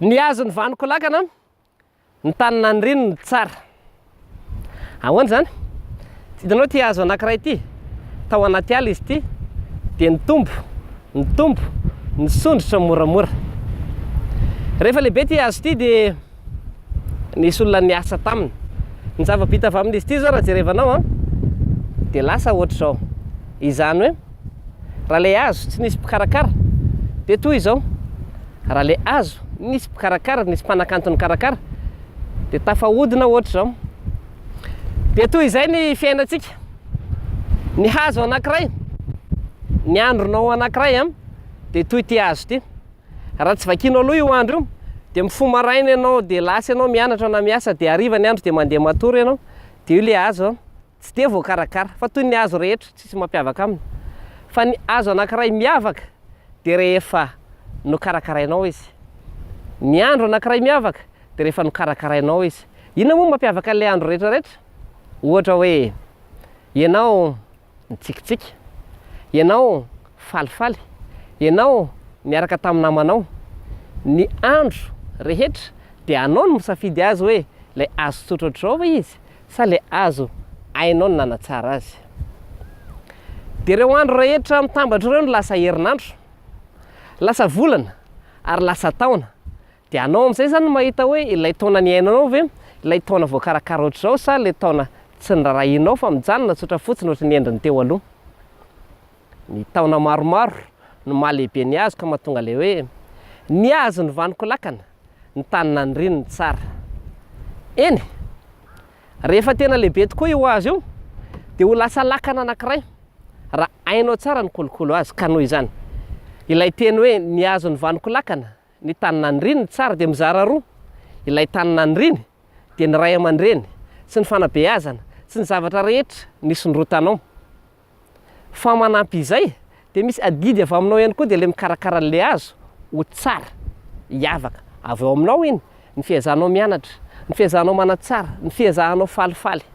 Ny hazo ny vaniko lakana, ny tany naniriny no tsara. Ahoana izany? Hitanao ity hazo anankiray ity? Tao anaty ala izy ity, dia nitombo, nitombo, nisondrotra moramora. Rehefa lehibe ity hazo ity dia nisy olona niasa taminy. Ny zava-bita avy amin'izy ity izao raha jerevanao dia lasa ohatr'izao. Izany hoe Raha ilay hazo tsy nisy mpikarakara dia toy izao, raha ilay hazo nisy mpikarakara, nisy mpanakanto nikarakara dia tafahodina ohatr'izao. Dia toy izay ny fiainantsika. Ny hazo anankiray, ny andronao anankiray an, dia toy ity hazo ity. Raha tsy vakinao aloha io andro io, dia mifoha maraina ianao, dia lasa ianao mianatra na miasa, dia hariva ny andro dia mandeha matory ianao, dia io ilay hazo an, Tsy dia voakarakara, fa toy ny hazo rehetra, tsisy mampiavaka aminy. Fa ny hazo anankiray miavaka dia rehefa nokarakarainao izy. Ny andro anankiray miavaka dia rehefa nokarakarainao izy. Inona moa no mampiavaka an'ilay andro rehetra rehetra? Ohatra hoe, ianao nitsikitsiky, ianao falifaly, ianao niaraka tamin'ny namanao. Ny andro rehetra dia anao no misafidy azy hoe ilay hazo tsotra ohatr'izao ve izy Sa le azo ainao ny nanatsara azy? Dia ireo andro rehetra mitambatra ireo no lasa herinandro, lasa volana ary lasa taona, dia anao amin'izay izany no mahita hoe ilay taona niainanao ve ilay taona voakarakara ohatr'izao sa ilay taona tsy norarahianao fa mijanona tsotra fotsiny ohatry ny endriny teo aloha. Ny taona maromaro no maha lehibe ny hazo ka mahatonga ilay hoe, ny hazo ny vaniko lakana. ny tany naniriany ny tsara. Eny, rehefa tena lehibe tokoa io hazo io, dia ho lasa lakana anankiray, raha hainao tsara ny kolokolo azy, ka noho izany, ilay teny hoe ny hazon'ny vanoko lakana, ny tany naniriany ny tsara dia mizara roa, ilay tany naniriany dia ny ray aman-dreny sy ny fanabeazana sy ny zavatra rehetra nisondrotanao. Fa manampy izay dia misy adidy avy aminao ihany koa dia ilay mikarakara an'ilay hazo ho tsara, hiavaka. Avy ao aminao iny, ny fiezahanao mianatra, ny fiezahanao manatsara, ny fiezahanao falifaly.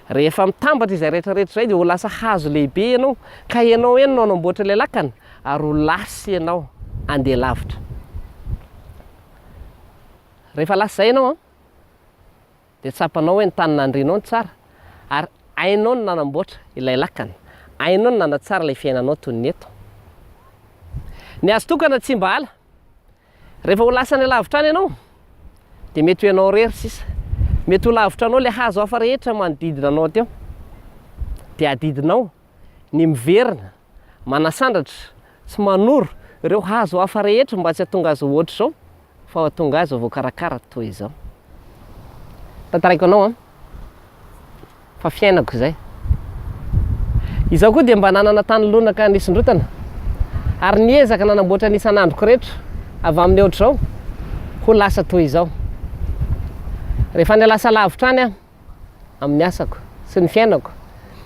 Rehefa mitambatra izay rehetra rehetra izay dia ho lasa hazo lehibe ianao ka ianao eny no hanamboatra ilay lakana ary ho lasa ianao handeha lavitra. Rehefa lasa izay ianao an! dia tsapanao hoe ny tany nandrianao no tsara, ary hainao ny nanamboatra ilay lakana, hainao ny nanatsara ilay fiainanao toy ny eto. Ny hazo tokana tsy mba ala. Rehefa ho lasa any alavitra any ianao, dia mety ho ianao irery sisa. Mety ho lavitra anao ilay hazo hafa rehetra manodidina anao teo. Dia adidinao ny miverina manasandratra sy manoro ireo hazo hafa rehetra mba tsy hahatonga azy ho ohatr'izao fa ho hahatonga azy ho voakarakara toy izao. Tantaraiko anao an, fa fiainako izay. Izaho koa dia mba nanana tany lonaka nisondrotana ary niezaka nanamboatra ny isan'androko rehetra avy amin'ny ohatr'izao ho lasa toy izao. Rehefa niala saha lavitra any aho, amin'ny asako sy ny fiainako.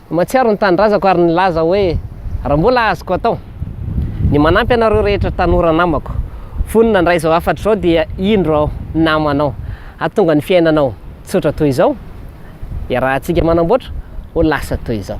Mahatsiaro ny tanindrazako ary nilaza hoe raha mbola azoko atao ny manampy anareo rehetra tanora namako, vonona handray izao hafatra izao dia indro aho namana ao hahatonga ny fiainanao tsotra toy izao, iarahantsika manamboatra ho lasa toy izao.